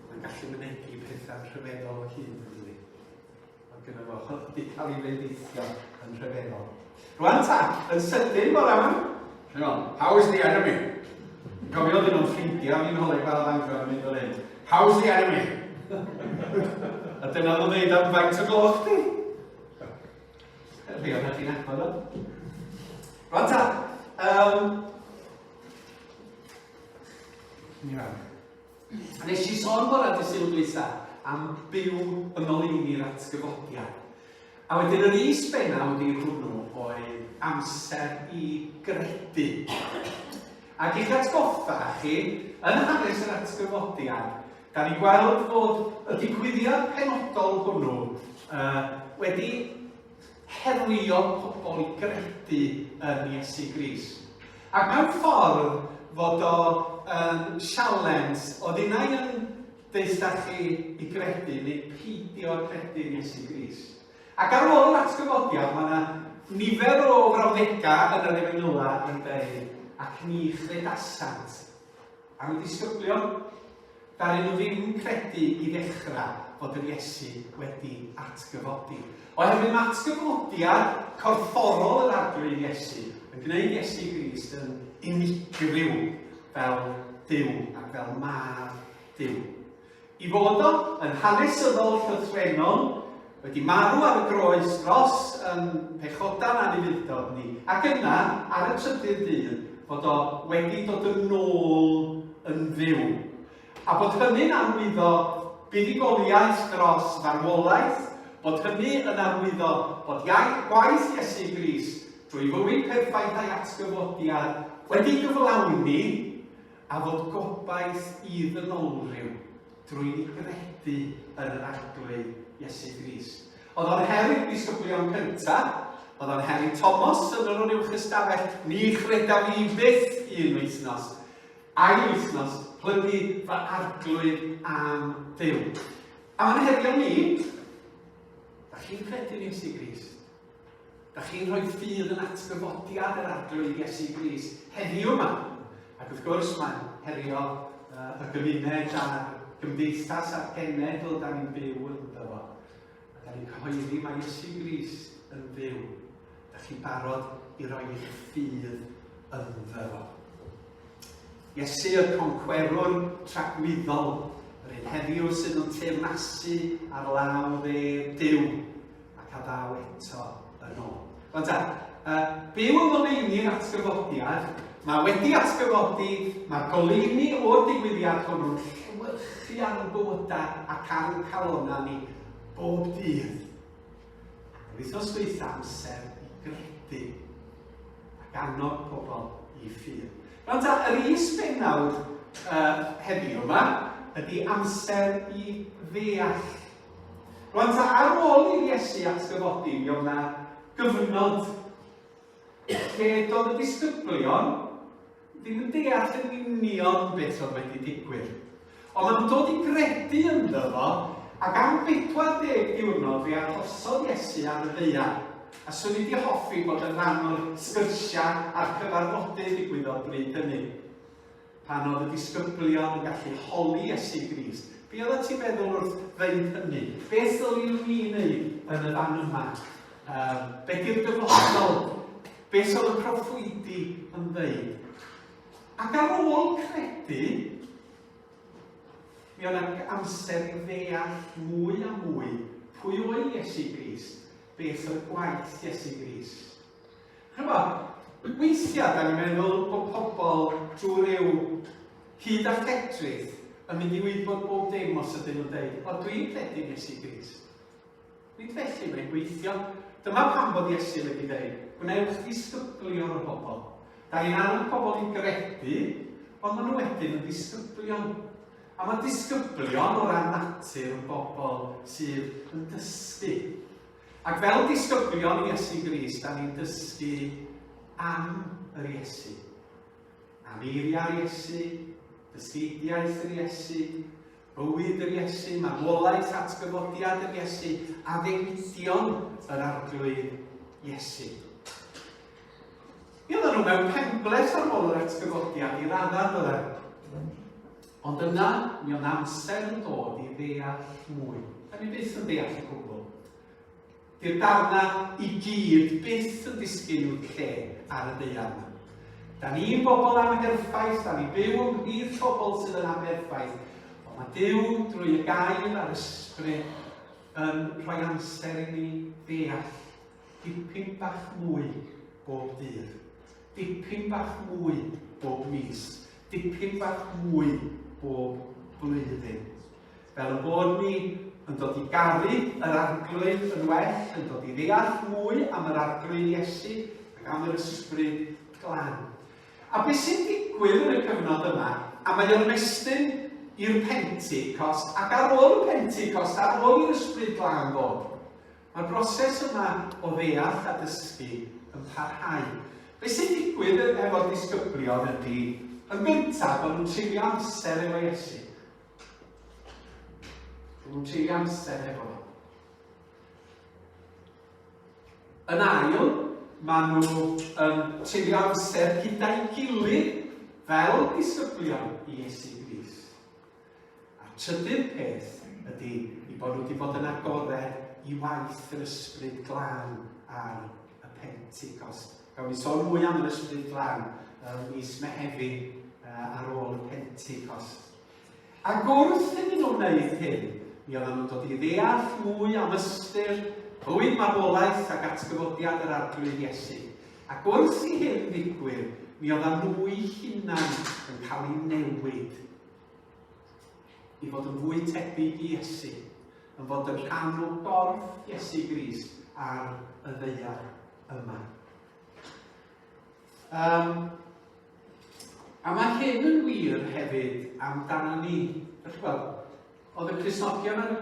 Mae'n gallu mynegi pethau rhyfeddol o hyd yn dydi. Mae gyda fo hyfdi cael ei wneudithio yn rhyfeddol. Rwan ta, yn sydyn bore yma. Hang on, how is the enemy? Gofio dyn nhw'n ffrindiau, ni'n holi fel angor yn mynd o'r hyn. How is the enemy? A dyna nhw'n dweud am faint o gloch di? Rwy'n rhaid i'n agor nhw. Rwan ta, um, Nes i sôn bod ar dysil blisa am byw yn ôl i ni'r atgyfodiad. A wedyn yr is bennaw ni hwnnw oedd amser i gredu. Ac i'ch atgoffa chi, yn hanes yr atgyfodiad, Da ni gweld bod y digwyddiad penodol hwnnw uh, wedi herio pobl i gredu yn Iesu Gris. Ac mewn ffordd fod o um, sialens o ddynau yn deitha chi i gredu neu peidio credu yn Iesu Gris. Ac ar ôl yr atgyfodiad, mae yna nifer o frawddegau yn yr efengyla yn dweud, ac ni chredasant. Am y disgyblion, ddaru nhw ddim credu i ddechrau fod yr Iesu wedi atgyfodi. Oherwydd mae atgyfodiad corfforol yr arglwydd Iesu yn gwneud Iesu Grist yn unigryw fel Dyw ac fel mab Dyw. Y Bodol, yn hanesyddol llythrennol, wedi marw ar y groes dros yn pechodau'n anufudd-dod ni, ac yna, ar y trydydd dydd, fod o wedi dod yn nôl yn fyw, a bod hynny'n arwyddo buddugoliaeth dros farwolaeth, bod hynny yn arwyddo bod iaith gwaith Iesu Grist drwy fywyd perffaith a'i atgyfodiad wedi gyflawni A fod gobaith i ddynolryw drwy gredu yn yr Arglwydd Iesu Grist. Oedd o'n her i'r disgyblion cyntaf, oedd o'n her i Thomas yn yr uwch ystafell, ni chredaf fi fyth un wythnos, ail wythnos, plygu fy arglwydd am Dduw. A mae'n herio ni, da chi'n credu yn Iesu Grist? Da chi'n rhoi ffydd yn atgyfodiad yr Arglwydd Iesu Gris heddiw yma. Ac wrth gwrs, mae'n herio uh, y gymuned a'r gymdeithas a'r genedl da ni'n byw ynddo fo. A da ni'n cyhoeddi mae Iesu Gris yn fyw. Da chi'n barod i roi eich ffydd ynddo fo. Iesu y concwerwr tragwyddol, yr un heddiw sydd yn teyrnasu ar law dde Dyw, ac a ddaw eto yn ôl. Ond ta, uh, byw yn oleini yn atgyfodiad, mae wedi atgyfodi, mae goleini o'r digwyddiad hwnnw'n llywyrchu ar y bywydau ac ar y calonau ni bob dydd. Wythnos dweitha amser i gredu ac annog pobl i ffyr. Rwan ta, yr is benawd uh, heddiw yma ydy amser i ddeall Rwan ta ar ôl i'r Iesu atgyfodi, mi oedd na gyfnod lle doedd y disgyblion ddim yn deall yn union beth oedd wedi digwydd. Ond maen nhw'n dod i gredu ynddo fo, ac am 40 diwrnod fe arhosodd Iesu ar y ddear, a swn i wedi hoffi bod yn rhan o'r sgyrsiau a'r cyfarfodydd ddigwyddodd bryd hynny. Pan oedd y disgyblion yn gallu holi Iesu Grist, be oedd y ti'n meddwl wrth ddeud hynny? Beth ddyliwn ni wneud yn y fan yma? Um, be di'r dyfodol? Beth oedd y proffwydi yn ddeud? Ac ar ôl credu, mi oedd yna amser i ddeall mwy a mwy pwy oedd Iesu Gris, beth oedd gwaith Iesu Gris. Ch'mod, weithiau dan ni'n meddwl bod pobl trwy ryw hud a lledrith yn mynd i wybod bob dim os ydyn nhw'n dweud, o dwi'n credu Iesu Grist. Nid felly mae'n gweithio. Dyma pam bod Iesu wedi dweud, gwnewch ddisgyblion o bobl. Da ni'n annog pobl i gredu, ond maen nhw wedyn yn ddisgyblion. A mae disgyblion o ran natur yn bobl sydd yn dysgu. Ac fel disgyblion Iesu Grist, da ni'n dysgu am yr Iesu. Am eiriau'r Iesu, dysgidiaeth yr Iesu, bywyd yr Iesu, marwolaeth atgyfodiad yr Iesu, a ddewidion yr arglwydd Iesu. Mi oedden nhw mewn penbles ar ôl yr atgyfodiad i raddau fel Ond yna, mi oedd amser yn dod i ddeall mwy. Da ni byth yn deall y cwbl. Di'r darna i gyd byth yn disgyn i'w lle ar y deian. Da ni'n bobl amherffaith, da ni byw yn rhif pobl sydd yn amherffaith, ond mae Dyw drwy y gair a'r ysbryd yn rhoi amser i ni ddeall dipyn bach mwy bob dydd, dipyn bach mwy bob mis, dipyn bach mwy bob blwyddyn. Fel y bod ni yn dod i garu yr arglwydd yn well, yn dod i ddeall mwy am yr arglwydd Iesu ac am yr ysbryd glan. A beth sy'n digwydd yn y cyfnod yma, a mae o'n mestyn i'r Pentecost, ac ar ôl y Pentecost, ar ôl i'r ysbryd glan ddod, Mae'r broses yma o ddeall a dysgu yn parhau. Be sy'n digwydd efo'r disgyblion ydy, yn gyntaf, bod nhw'n treulio amser efo Iesu. Bod nhw'n treulio amser efo nhw. Yn ail, mae nhw yn treulio amser gyda'i gilydd fel disgyblion i Iesu Gris. A'r trydydd peth ydy i bod nhw wedi bod yn agored i waith yr ysbryd glân ar y Pentecost. Gawn ni sôn mwy am yr ysbryd glân ym mis Mehefin uh, ar ôl y Pentecost. Ac wrth iddyn nhw wneud hyn, mi oedden nhw'n dod i ddeall fwy am ystyr bywyd marwolaeth ac atgyfodiad yr arglwydd Iesu. Ac wrth i hyn ddigwydd, mi oedden nhw'i hunan yn cael ei newid i fod yn fwy tebyg i Iesu, yn fod yn rhan o gorff Iesu Grist ar y ddeiar yma. Um, a mae hyn yn wir hefyd amdano ni. Felly gweld, oedd y Crisnogion yn,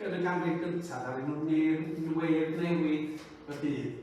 yn y ganrif gyntaf, a rydyn nhw'n newid newid y byd.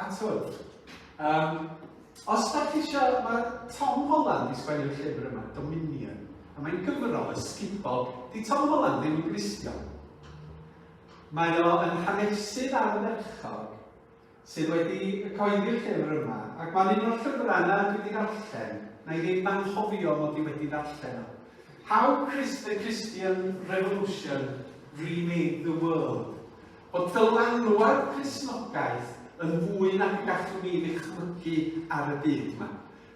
Atwrdd. Um, os da chi eisiau, mae Tom Holland i sgwennu'r llyfr yma, Dominion, a mae'n gyfrol ysgubol. Di Tom Holland ddim yn Gristion. Mae o yn hanesydd ardderchog sydd wedi cyhoeddi'r llyfr yma, ac mae'n un o'r llyfrau yna dwi wedi darllen, na i ddim anghofio mod i wedi darllen o. How Christ the Christian Revolution Remade the World. Bod dylanwad Cristnogaeth yn fwy nag y gallwn ni ddychmygu ar y byd yma.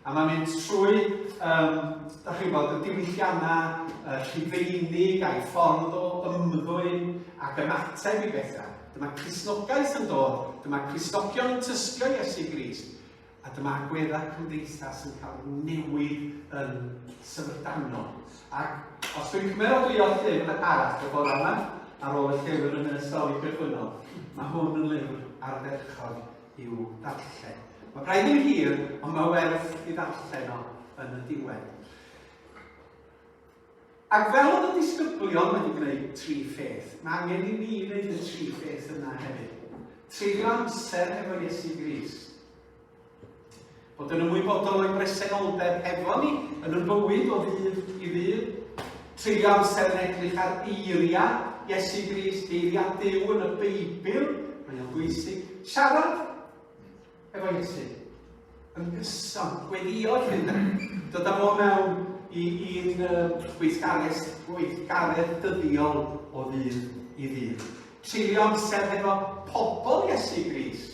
A mae'n mynd trwy, um, da chi'n gwybod, y diwylliannau uh, rhufeinig a'i ffordd o ymddwyn ac ymateb i bethau. Dyma Cristnogaeth yn dod, dyma Cristnogion yn tysgio Iesu Gris. A dyma agweddau cymdeithas yn cael newid yn syfrdanol. Ac os dwi'n cymerodwyo llyfr arall y bore yma, ar ôl y llyfr yn y stori cychwynnol, mae hwn yn lyfr ardderchog i'w darllen. Mae braidd yn hir, ond mae werth i ddarllen o yn y diwedd. Ac fel oedd y disgyblion wedi gwneud tri pheth, mae angen i ni wneud y tri pheth yna hefyd. Treulio amser hefo Iesu Gris. Bod yn ymwybodol o'i bresenoldeb hefo ni yn y bywyd o ddydd i ddydd. Treulio amser yn edrych ar eiriau Iesu Gris, eiriau Dyw yn y Beibl, mae'n bwysig. Siarad Efo Iesu. Yn gyson, gweddio hynna. Dod â fo mewn i, i'n uh, gweithgaredd, gweithgaredd dyddiol o ddydd i ddydd. Treulio amser hefo pobl Iesu Gris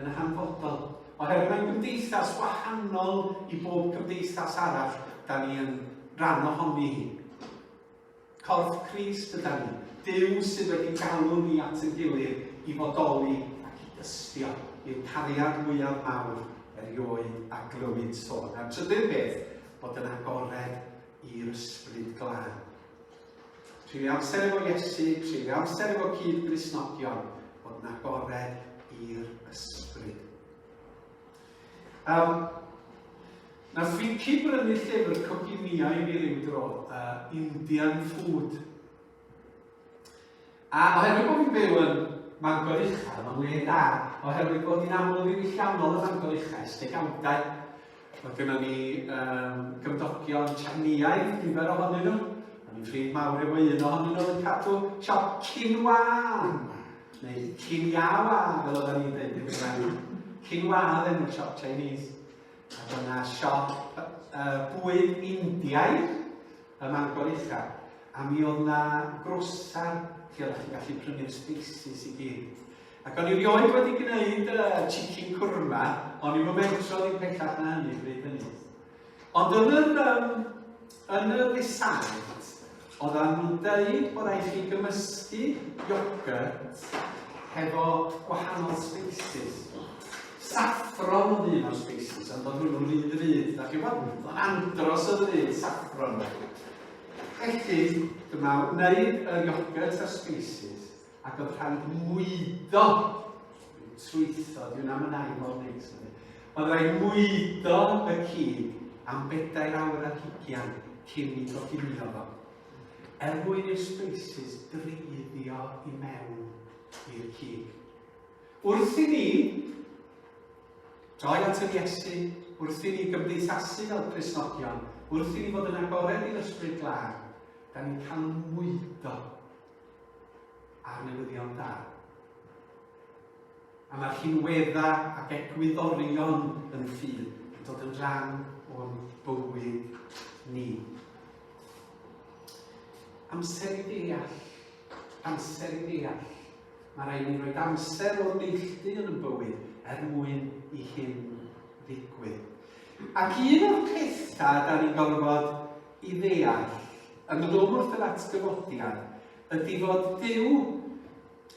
yn y hanfodol. Oherwydd mae'n gymdeithas wahanol i bob cymdeithas arall da ni yn rhan ohoni hi. Corff Crist yda ni, Duw sydd wedi galw ni at ein gilydd i fodoli ac i dystio, yw'r cariad mwyaf mawr erioed a glywyd sôn. A'r trydydd beth, bod yn agored i'r Ysbryd Glân. Treulio amser efo Iesu, treulio amser efo cyd-Gristnogion, bod yn agored i'r Ysbryd. Um, na Finci brynu llyfr coginia i mi ryw dro, uh, Indian Food. A oherwydd bod fi'n byw yn Mangor Uchel, mae'n le da, oherwydd bod hi'n aml ddim llawnol yn Mangor Uchel, stegawdau. Mae gennym ni um, gymdogion Chinaidd, nifer ohonyn nhw. Mae ni'n ffrind mawr efo un ohonyn nhw yn cadw siop Cinwan. Neu cyn iaw a, fel oedden ni'n dweud yn Gymraeg, cyn wadd enw siop Chinese. Ac yna siop uh, bwyd Indiaidd ym Mangor Uchaf. A mi oedd yna grwsar lle oeddech chi'n gallu prynu'r spaces i gyd. Ac o'n i rioed wedi gwneud uh, chicken kurma, o'n i'n mentro ddim pellach na hynny bryd hynny. Ond yn yr, um, yn yr risaid, oedden nhw'n dweud bod rhaid chi gymysgu iogurt hefo gwahanol species. Saffron oedd un o'r species, ond oedd hwnnw'n rhy ddrud. Da chi'n bod? Oedd andros o ddrud saffron. Felly, dyma wneud yr iogurt ar species, Ac oedd rhaid mwydo i'w trwytho, dwi'n am yn ail o'r neis. Oedd rhaid mwydo y cyd am bedair awr ar higian cyn i goginio fo. Er mwyn i'r spaces dreiddio i mewn i'r cyd. Wrth i ni droi at yr Iesu, wrth i ni gymdeithasu fel Cresnogion, wrth i ni fod yn agored i'r ysbryd glân, da ni'n cael mwydo a'r newyddion da. A mae'r hinwedda ac egwyddorion yn ffydd yn dod yn rhan o'n bywyd ni. Amser i ddeall, amser i ddeall. Mae rhaid ni roed amser o'r neilltu yn y bywyd er mwyn i hyn ddigwydd. Ac un o'r pethau da ni'n gorfod i ddeall yn dod o wrth yr atgyfodiad ydy fod Duw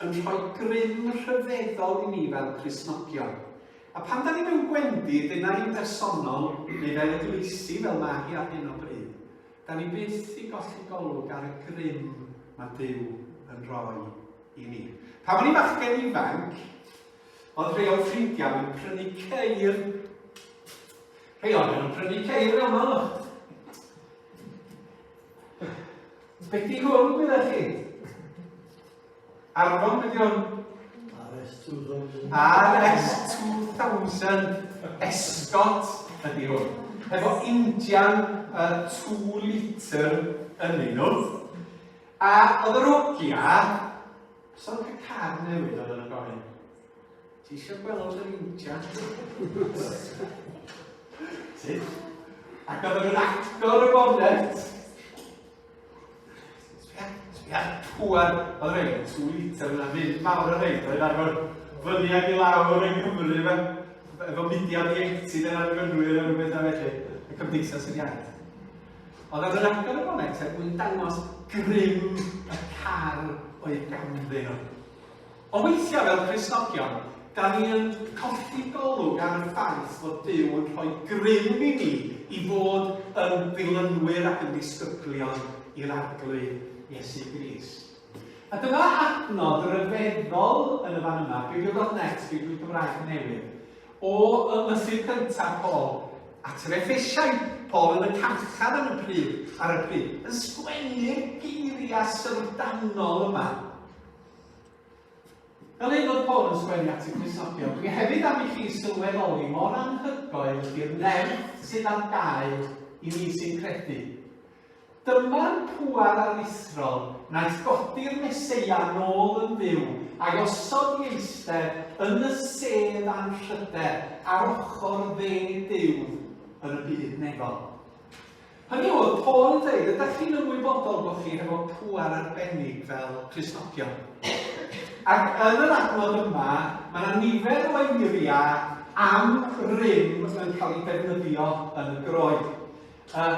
yn rhoi grym rhyfeddol i ni fel Cristnogion. A pan da ni mewn gwendi, dyna ni'n bersonol, neu fel eglwysi, fel mae hi ar hyn o bryd, da ni byth i golli golwg ar y grym mae Duw yn rhoi i ni. Pan o'n i'n fachgen ifanc, oedd rhai o'n ffrindiau yn prynu ceir Rhai ohonom yn prynu ceir yn aml o'ch. Beth di hwn gyda chi? Arfon beth yw RS2000. RS2000 Escot ydy hwn. Efo Indian uh, 2 litr yn un nhw. A oedd yr ogia, so'n cael car newydd oedd yn y gofyn. Ti eisiau gweld yr injan? Sut? Ac oedd yn agor y bonnet. Sbia, sbia, pŵar. Oedd rhaid yn tŵ litr yna, mynd mawr o rhaid. Oedd arfer fyny ag i lawr yn Cymru yma. Efo mudiad iechyd yn argynwyr yn rhywbeth a felly. Y cymdeithas yr iaith. Ond oedd yn agor y bonnet er mwyn dangos grym y car o'i ganddyn nhw. O weithiau fel Cristnogion, da ni yn colli golwg ar y ffaith fod Duw yn rhoi grym i ni i fod yn ddilynwyr ac yn ddisgyblion i'r Arglwydd Iesu Gris. A dyma adnodd ryfeddol yn y fan yma, Biblio.net, Bibl Cymraeg Newydd, o ymysg'r cyntaf Paul at yr Efesiaid, Paul yn y carchar yn y pryd, ar y pryd, yn sgwennu'r geiriau syfrdanol yma. Fel ei fod Paul yn sgwennu at y Crisnogion, dwi hefyd am i chi sylweddoli mor anhygoel ydy'r nerth sydd ar gael i ni sy'n credu. Dyma'r pŵar aruthrol wnaeth godi'r Meseia nôl yn fyw a'i osod i eistedd yn y sedd anrhyder ar ochr dde Duw yn y byd nefol. Hynny yw, oedd Paul yn dweud, ydych chi'n ymwybodol bod chi hefo pŵar arbennig fel Cristnogion? Ac yn yr adnod yma, mae yna nifer o eiriau am rym yn cael ei defnyddio yn y groen. Uh,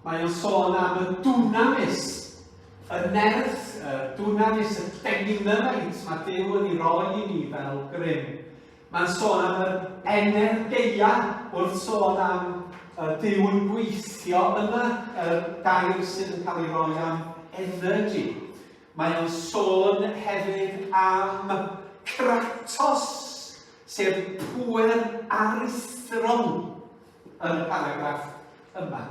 mae o'n sôn am y dwnamis, y nerth, y dwnamis, y deginymait mae Dyw yn ei roi i ni fel grym. Mae'n sôn am yr Energeia wrth sôn am y Duw yn gweithio yna, y gair sydd yn cael ei roi am energy. Mae o'n sôn hefyd am Kratos, sef pwer aruthrol yn y paragraff yma.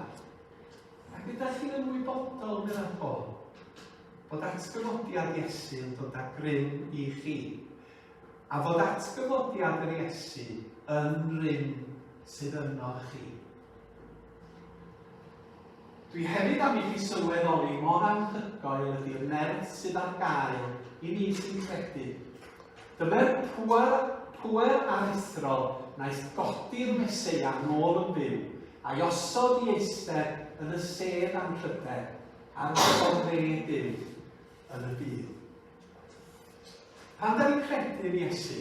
Ac ydych chi'n ymwybodol, meddwl Paul, bod atgyfodiad Iesu yn dod â grym i chi. A fod atgyfodiad yr Iesu yn rym sydd yno chi. Dwi hefyd am i chi sylweddoli mor anhygoel ydy'r nerth sydd ar gael i ni sy'n credu. Dyma'r pwer, pwer aruthrol naeth godi'r Meseia yn ôl yn byw, a'i osod i eistedd yn y sedd anrhydedd ar y dde Duw yn y byd. Pan da ni'n credu yn Iesu,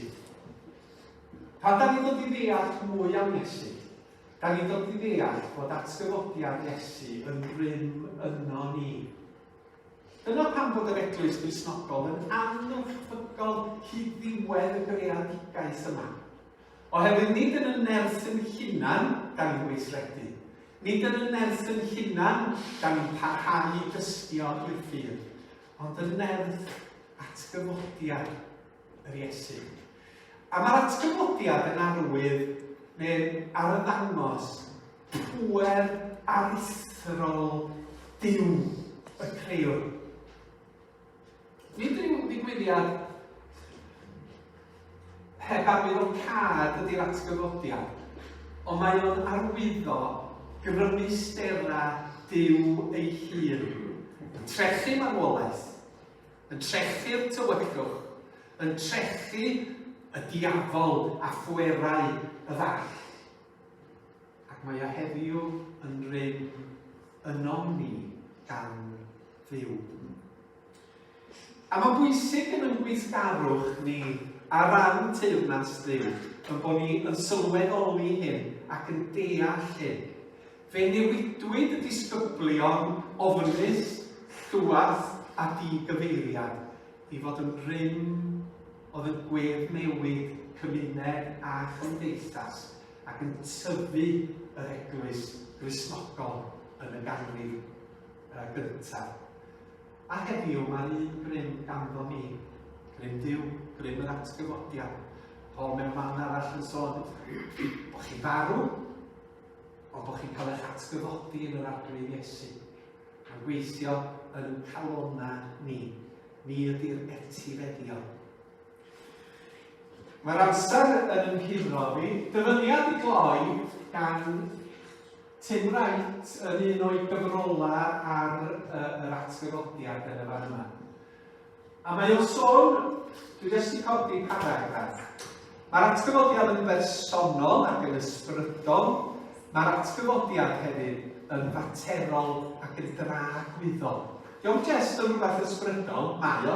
pan da ni'n dod i ddeall mwy am Iesu, da ni'n dod i ddeall bod atgyfodiad Iesu yn rhywun yno ni. Dyna pan bod yr eglwys grisnogol yn angyffygol hyd ddiwedd y greadigaeth yma. Oherwydd nid yn y nerth yn hunan da ni'n gweithredu. Nid yn y nerth yn hunan da ni'n parhau i dystio i'r ffydd. ond yn nerth atgyfodiad yr Iesu. A mae'r atgyfodiad yn arwydd neu'n arddangos pwer aruthrol Duw y Creiwr. Nid rhyw ddigwyddiad Heb arwyddocâd ydy'r atgyfodiad, ond mae o'n arwyddo grymusterau Duw ei hun, yn trechu marwolaeth, yn trechu'r tywyllwch, yn trechu y diafol a phwerau y ddall. Ac mae o heddiw yn rym ynom ni gan Dduw. A mae'n bwysig yn ein gweithgarwch ni ar ran Teyrnas Dduw ein bod ni yn sylweddoli hyn ac yn deall hyn. Fe newidwyd y disgyblion ofnus, llwach a di-gyfeiriad i fod yn rym oedd yn gweddnewid cymuned a chymdeithas ac yn tyfu yr eglwys Gristnogol yn y ganrif gyntaf. A heddiw mae'r un grym ganddo ni, grym Duw, grym yr atgyfodiad. Paul mewn man arall yn sôn bod chi'n farw, ond bod chi'n cael eich atgyfodi yn yr arglwydd Iesu. Mae'n gweithio yn y calona ni. Ni ydy'r etifeddion. Mae'r amser yn ymhuro fi. Dyfyniad i gloi gan Tim Wright yn un o'i gyfrolau ar uh, yr atgyfodiad yn y fan yma. A mae o'n sôn, dwi jyst i codi paragraff, Mae'r atgyfodiad yn bersonol ac yn ysbrydol. Mae'r atgyfodiad hefyd yn faterol ac yn dragwyddol. Diolch Jess yn rhywbeth ysbrydol, mae o.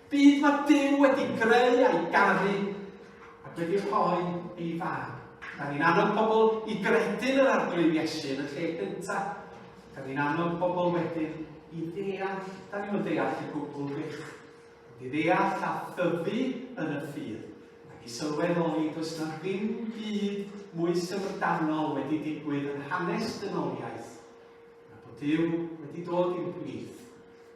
Byd mae Duw wedi greu a'i garu, ac wedi rhoi ei fag. Da ni'n annog pobl i gredu'n yr arglwydd Iesu yn y lle gyntaf. Da ni'n annog pobl wedyn i ddeall, da ni'n ddeall y gwbl bych. I ddeall a thyfu yn y ffydd, ac i sylweddoli does na ddim byd mwy syfrdanol wedi digwydd yn hanes dynoliaeth, na bod Duw wedi dod i'n plith